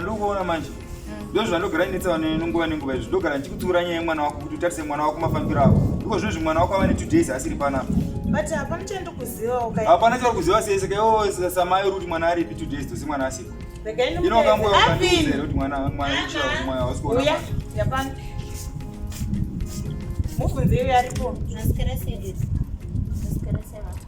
ndokuona manje ndo zvandogara inetsa vanhu nenguva nenguva izvi ndogara ndichikutsiura nyaya yemwana wako kuti utarise mwana wako mafambiro avo iko zvino zvi mwana wako ava netu days asiri panapa hapana chauri kuziva sese kaiwo samai uri kuti mwana aripi two days tosi mwana asiko ino kanguva ukandiuzere kuti mwana mwana mwana hausi kuona mubvunze iyo yaripo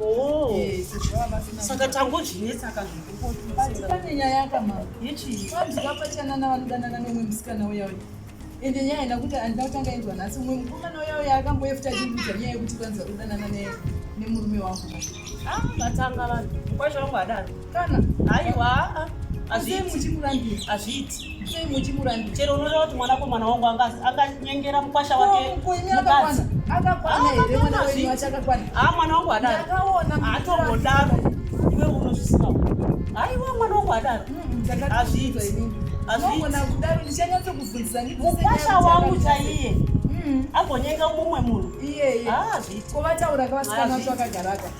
Oh. Yes. Saka tangozvinetsa kazvikukotimbati pane nyaya yakamama yechii vanzi vapachanana vanodanana neumwe musikana uya uya ende nyaya ina kuti andina kutanga inzwa nhasi umwe mukomana uya uya akamboyefuta achindudza nyaya yekuti vanzi vakudanana nemurume wangu ah, vatanga vanhu mukwasha wangu adaro kana aiwa hazviiti chero unoda kuti mwanakomana wangu anganyengera mukwasha wake mukadzi haa mwana wangu adaro hatongodaro iwe unozvisiwa haiwa mwana wangu adaro hazviiti mukwasha wangu chaiye hmm. agonyenga mumwe munhu iyeye haa zviti kovataura kavasikanatu akagaraka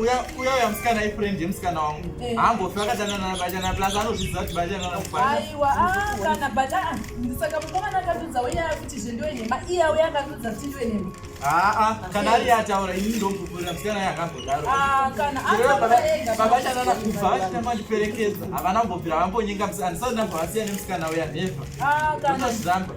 uya uya musikana ifriend yemusikana wangu haambofi akadanana nabajana plus anozviziva kuti bajanana mubaikana but saka mukomana akatudza uya kuti zvendiwe nhema iya uya akatudza kuti ndiwe nhema aa kana ari yataura ini ndombuvurira musikana ye akangodaro babachanana kubva vachita mandiperekedza havana mbobvira vambonyenga musikana ndisati ndambovasiya nemusikana uya never ndozviramba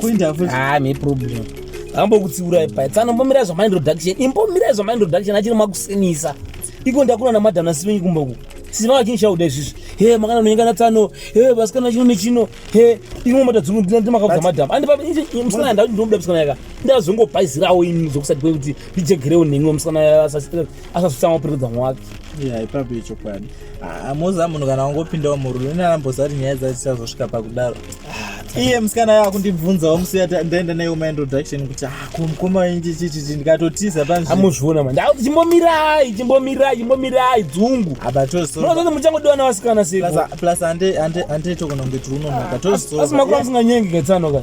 kuinda futi ah me problem ambokutsiura ipa tsano mbomira zva mind reduction imbomira zva mind reduction achiri makusinisa iko ndakuna na madam nasivenyi kumba ku sisi vanga chinhu chauda izvizvi he makana nonyenga na tsano he vasikana chino nechino he imwe mota dzungu ndina ndi makabva madam andi papa inje msana nda ndomuda msana yaka nda zongo paizirawo ini zokusati kwekuti ndijegerewo nengo msana asasitsa asasitsa mapiridza mwake yeah ipa bicho kwani Ah, moza munhu kana wangopindawo murume ine arambozati nyaya dzacho tichazosvika pakudaro ah, iye musikana yava kundibvunzawo musiya ndaenda naye uma introduction kuti ah, kumukoma wenjichichiti ndikatotiza panzviamuzviona ma ndau chimbomirai chimbomirai chimbomirai dzungu abatozoti muchangodiwa navasikana seplus andetokona kunge tiunonoka tozosimakura musinganyengi ketsanoka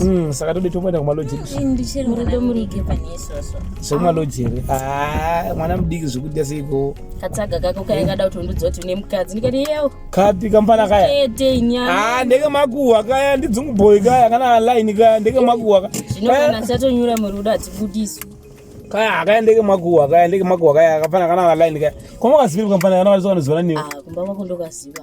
Mm, saka tode toenda kumalojeri zvemalojeri ah, mwana mudiki zvekudya seiko katsaga kako kaya kada kuti undiudza kuti une mukadzi ndikati yewo kapi kamfana kaya ah, ndeke makuhwa kaya ndidzungubhoyi kaya kana line kaya ndeke makuhwa kaya zvino kana ndichatonyura murudo hadzibudiswi kaya akaendeke makuwa akaendeke makuwa kaya akafana kana akaline kaya kwamakaziva kamfana kana vaisokanoziva naniwe ah, kumba kwako ndokaziva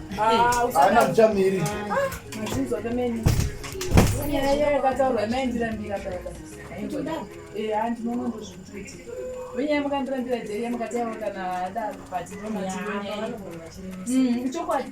Ah, Haana muchamiri. Mazinzi wake meni. Nyaya yeye akataurwa maindira mbira baba. Eh, hanti nono ndozvituti. Wenye mukandira mbira jeri mukati yavo kana ada but no mazinzi nyaya. Mm, chokwadi.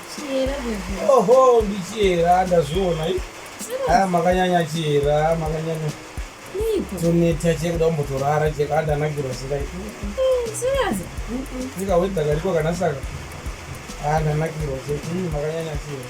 Oho, ndichiyera ndazviona aya makanyanya chiyera makanyanya toneta chie kuda kumbotorara chie kaa ndanakirwa sikai sika wei dakariko kana saka aa ndanakirwa chie makanyanya chiyera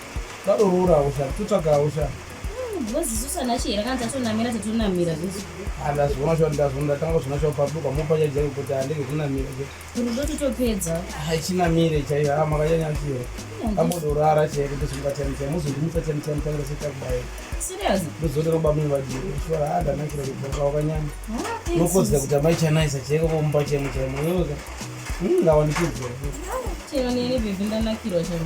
Tadororawo sha, totsvagawo sha. Ngoziso sana chihera kana tatonamira tatonamira zvese. Ana zvona sha ndazvo ndatanga zvona sha paduka mopa yaje kuti andege kunamira ke. Rudo totopedza. Hachinamire chaiyo ama kanyanya chihera. Ambodorara chaiyo kuti zvingatani chaiyo muzondimisa chani chani chani chaiyo chakubaya. Serious? Ndozodero bamwe vajiro. Shora hada nakira kuti wakanyanya. Nokozda kuti amai chanaisa chaiyo komupa chaiyo chaiyo. ngawanikidze chero neni bhebhi ndanakirwa chero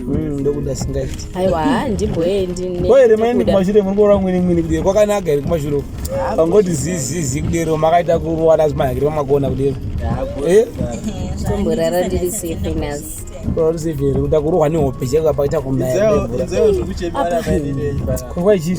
Mm, ndokuda singaiti aiwa handimboendinekumashure muri kuona mwini mwini kudero kwakanaka here kumashure pangoti zizizi kudero makaita kuruwana zimahakiri pamakona kudero eh? tomborara ndiri safe nas uri safe here kuda kurohwa nehope cheka pakaita kunayakwaichii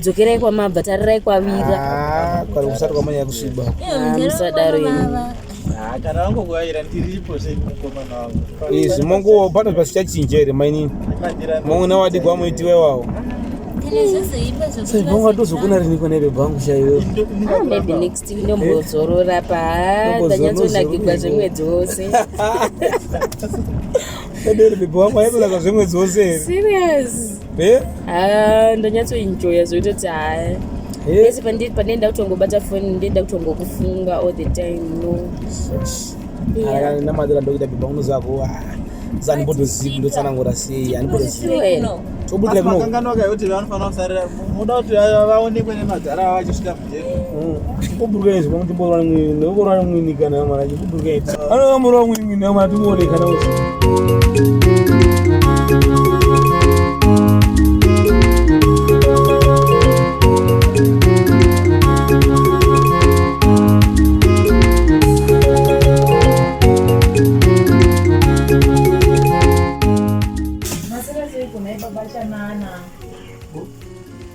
dzokerai kwamabva tarirai kwavira ah, kwari kusati kwamanya kusviba ah, musadaro ini ah, kana vangokuvaira ndiripo semukomana wavo izvi mongo pano pasichachinja here mainini mongo nawadigwa muitiwa iwawo saibonga tozokuna riniko nebe bhangu chaiyo ah, maybe next ndombozorora pa ndanyatsonakigwa zvemwedzi wose ederi bebe wangu aibelaka zvemwedzi wose here serious eh? ah, ndanyatsoenjoya zvoita kuti haya pese eh? pandenda kutongobata foni ndenda kutongokufunga all the time no namadira ndokuita bhibha unozako zanibodozivi ndotsanangura sei anibodozivitobudira kunokanganwaka yoti vanofanira kusarira muda kuti vaonekwe nemadhara vachisvika kuburuka izvo pamuti bora mwini nekubora mwini kana mwana kuburuka izvo anova mura mwini mwini mwana timuone kana kuti Masira ziri kunaipa bachanana.